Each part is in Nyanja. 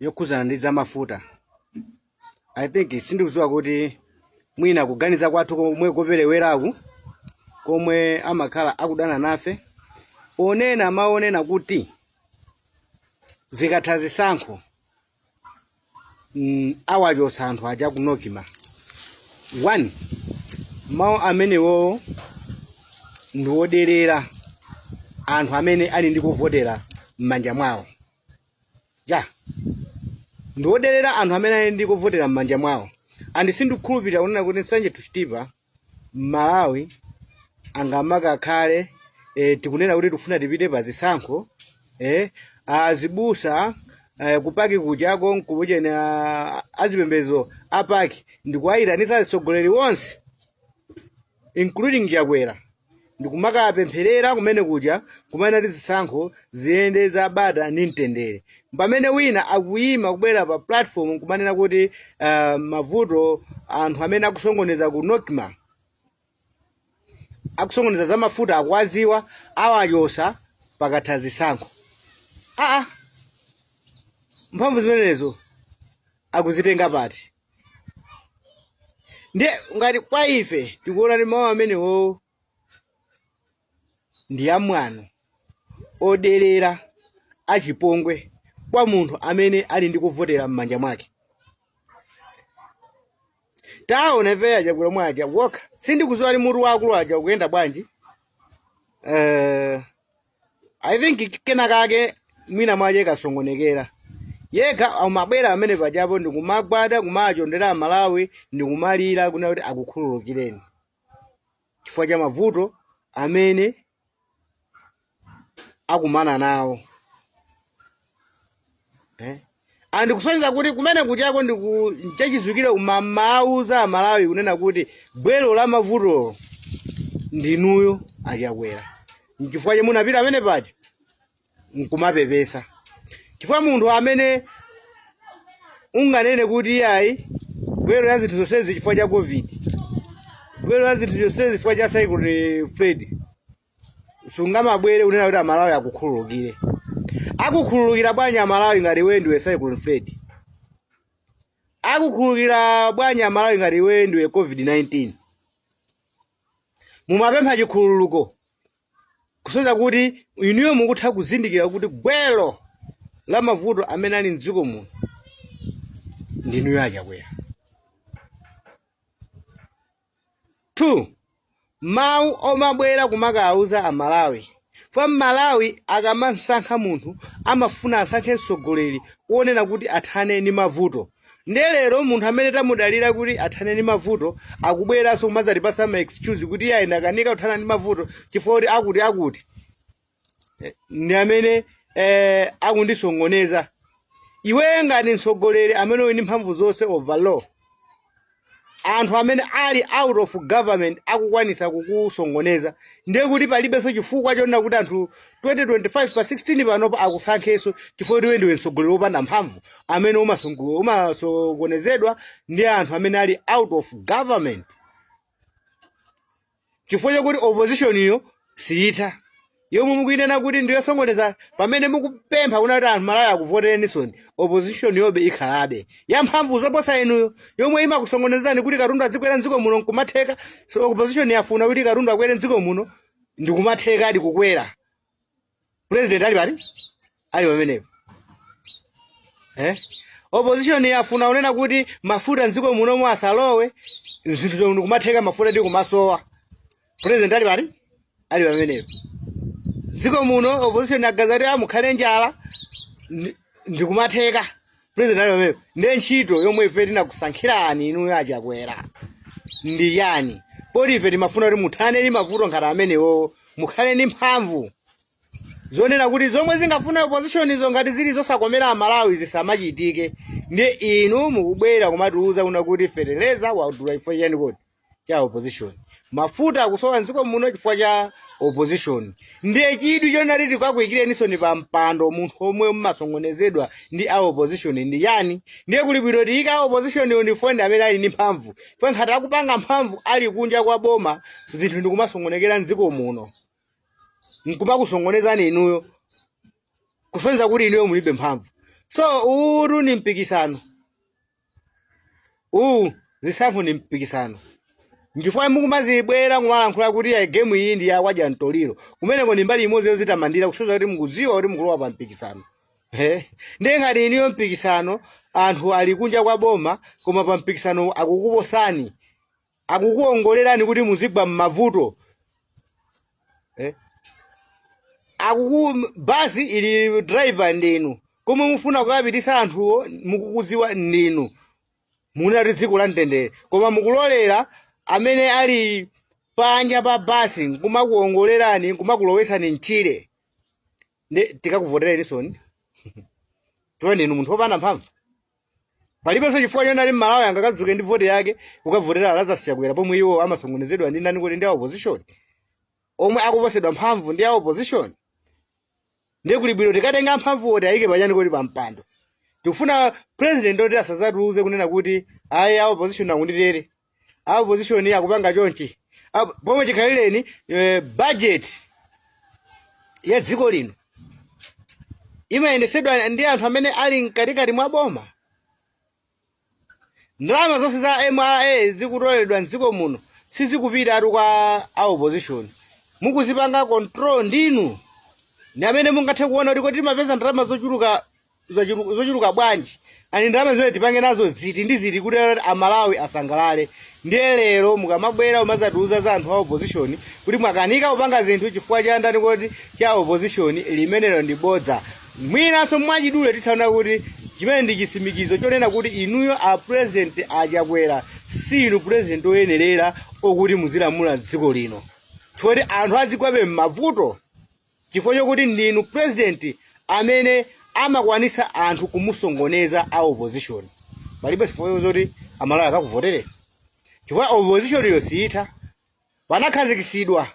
yokhudzana ndi zamafuta i think sindikudziwa kuti mwina kuganiza kwathu komwe kopereweraku komwe amakhala akudana nafe ponena mawu onena kuti zikatha zisankho mm, awachotsa anthu aja ku nocma one mawu amenewowo ndi woderera anthu amene ali ndi kovotera m'manja mwawo ya ndiwoderera anthu amene ali ndi kovotera m'manja mwawo and sindikukhulupirira kunena kuti nsanje to chitipa mmalawi angamakakhale eh, tikunena kuti tikufuna tipite pa zisankho eh, azibusa eh, ku pac kujako nkuchena azipembezo a pac ndikuwayitanitsa atsogoleri onse including chakwera ndikumakapempherera kumene kuja kumanena kuti zisankho ziyende za bata ndi mtendere pamene wina akuyima kubwera pa platform nkumanena kuti uh, mavuto anthu amene akusokoneza ku nocma akusokoneza za mafuta akuwaziwa awachotsa pakatha zisankho aa mphamvu zimenezo akuzitenga pati ndiye ngati kwa ife tikuona kuti mawu amenewo ndi amwano odelera achipongwe kwa munthu amene ali ndi kovotera m'manja mwake taona ife achakwera mwaja wokha sindikuziwa kuti mutu wa akulu aja ukuyenda bwanji Eh, i think kena kake mwina mwache kasokonekera yekha amabwera pamene pajapo ndikumagwada kumachondera amalawi ndikumalira kunena kuti akukhululukireni chifukwa cha mavuto amene akumana nawo eh? and kusonyeza kuti kumene kujako ndi chachidziwikire mumawauza amalawi kunena kuti gwero la mavutolo ndinuyo achakwera nchifukwa chomwe munapita pamene paja nkumapepesa chifukwa munthu amene unganene kuti iyayi gwero la zinthu zonsezi chifukwa cha covid gwero la zinthu zonsezi chifukwa cha cyclone fred sungamabwere kunena kuti amalawi akukhululukire akukhululukira bwanji amalawi ngati iwe ndiwe cyclone fred akukhululukira bwanji amalawi ngati iwe ndiwe covid-19 mumapempha chikhululuko kusonyeza kuti inuyo mukutha kuzindikira kuti gwero la mavuto amene ali mdziko muno ndinuyo achakwera 2 mau omabwera kumakawauza amalawi chifukwa mmalawi akamansankha munthu amafuna asankhe mtsogoleri wonena kuti athane ndi mavuto nde lero munthu amene tamudalira kuti athane ndi mavuto akubweranso kumazatipatsa ma excuse kuti iye ayi ndakanika kuthana ndi mavuto chifukwa kuti akuti akuti eh, ndi amene eh, akundisongoneza iwe ngati mtsogoleri amene uli ndi mphamvu zonse over all anthu amene ali out of government akukwanitsa kukusongoneza ndiye kuti palibenso chifukwa chonena kuti anthu 2025 pa 16 panopa akusankhenso chifukwa kuti iwe ndiwe mtsogoleri wopanda mphamvu amene umasongo- umasokonezedwa ndi anthu amene ali out of government chifukwa chakuti opozishoniyo siyitha yomwe mukuyinena kuti ndiyosongoneza pamene mukupempha kunena kuti anthu amalawi akuvotereninsoni opozishoniyobe ikhalabe yamphamvu zoposa inuyo yomwe imakusongonezani kuti katundu adzikwera mdziko muno nkumatheka so opozishoni yafuna kuti katundu akwere mdziko muno ndikumathekadi kukwera president ali pati ali pamenepo eh? opposition yafuna kunena kuti mafuta mdziko munomo asalowe zinthuzo ndikumatheka mafuta ndikumasowa president ali pati ali pamenepo dziko muno opposition aganiza kuti mukhale njala ndi- ndikumatheka president ali pamenepo ndiye ntchito yomwe ife tinakusankhirani inuyo achakwera ndi yanji poti ife timafuna kuti muthane ndi mavuto ngati amenewo mukhale ndi mphamvu zonena kuti zomwe zikufuna opposition izo ngati zili zosakomera amalawi zisamachitike ndiye inu mukubwera kumatiuza kunena kuti feteleza wadula chifukwa chani kodi cha opposition mafuta akusowa mdziko muno chifukwa cha opposition ndiye chidwi chonena kuti tikakuikeninsoni pa mpando munthu omwe mmasongonezedwa ndi a opposition ndi chani ndiye kuli bwino tiyike a opposition yo chifukwa ndi amene ali ndi mphamvu chifukwa ngati akupanga mphamvu ali kunja kwa boma zinthu ndikumasongonekera mdziko muno nkumakusongonezani inuyo kusonyeza kuti inuyo mulibe mphamvu so uwu ni mpikisano uwu zisankho ndi mpikisano nchifukwa mukumabwera kumalankhula kuti ya gemu iyi ndi ya kwa dya mtoliro kumeneko ndi mbali imodzi yozitamandira kusonyeza kuti mukudziwa kuti mukulowa pa mpikisano Eh, ndiye ngati inuyo mpikisano anthu ali kunja kwa boma koma pa mpikisano akukuposani akukuongolerani kuti muzigwa m'mavuto eh? akuku basi ili driver ndinu komwe mufuna kukapititsa anthuwo mukukuziwa ndinu munena kuti dziko la mtendere koma mukulolera amene ali panja pa basi nkumakuongolerani nkumakulowetsani mchire nde tikakuvotereninsoni chifukwa ndinu munthu wopanda mphamvu palibenso chifukwa chonena kuti mmalawi angakazuke ndi vote yake kukavotera a lazarus chakwera pomwe iwo amasongonezedwa ndi ndani ndi a opposition omwe akuposedwa mphamvu ndi a opposition ndiye kuli bwino tikatenga amphamvu oti ayike pachani koti pampando tikufuna president oti asazatiuze kunena kuti ayi a opposition akunditere a opposition akupanga chonchi Apo- pomwe chikhalireni eh, budget ya dziko lino imayendesedwa ndi anthu amene ali mkatikati mwa boma ndalama zonse za mra zikutoleredwa mdziko muno sizikupita tu kwa a opposition mukuzipanga control ndinu ndi amene mungathe kuona kuti kodi timapeza ndalama zochuluka zochulu- zochuluka bwanji and ndalama zimene tipange nazo ziti ndi ziti kuti kuti amalawi asangalale ndiye lero mukamabwera umazatiuza za anthu a opposition kuti mwakanika kupanga zinthu chifukwa cha ndani koti cha opposition limenelo ndi bodza mwinanso mwachidule tithaona kuti chimenecho ndi chisimikizo chonena kuti inuyo a president achakwera si inu president oyenerera okuti muzilamula dziko lino chifukwa anthu azigwabe m'mavuto chifukwa chokuti ndinu president amene amakwanisa anthu kumusongoneza a opposition palibe chifukwa choti amalawi akakuvotere chifukwa opposition yo siyitha panakhazikisidwa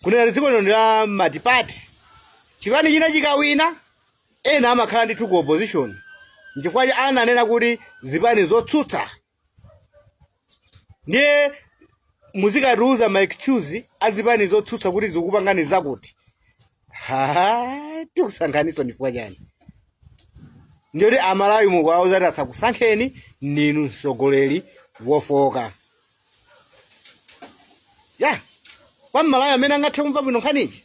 kunena kuti dziko lino ndi la matipati chipani china chikawina ena amakhala ndithu ku opposition nchifukwa chake ananena kuti zipani zotsutsa ndiye muzikatiuza ma excuse azipani zotsutsa kuti zikupangani zakuti Ha, tikusankheninso nchifukwa chani ndiye kuti amalawi mukuwauza kuti asakusankheni ndinu mtsogoleri wofowoka ya kwa mmalawi amene angathe kumva bwino nkhaniyi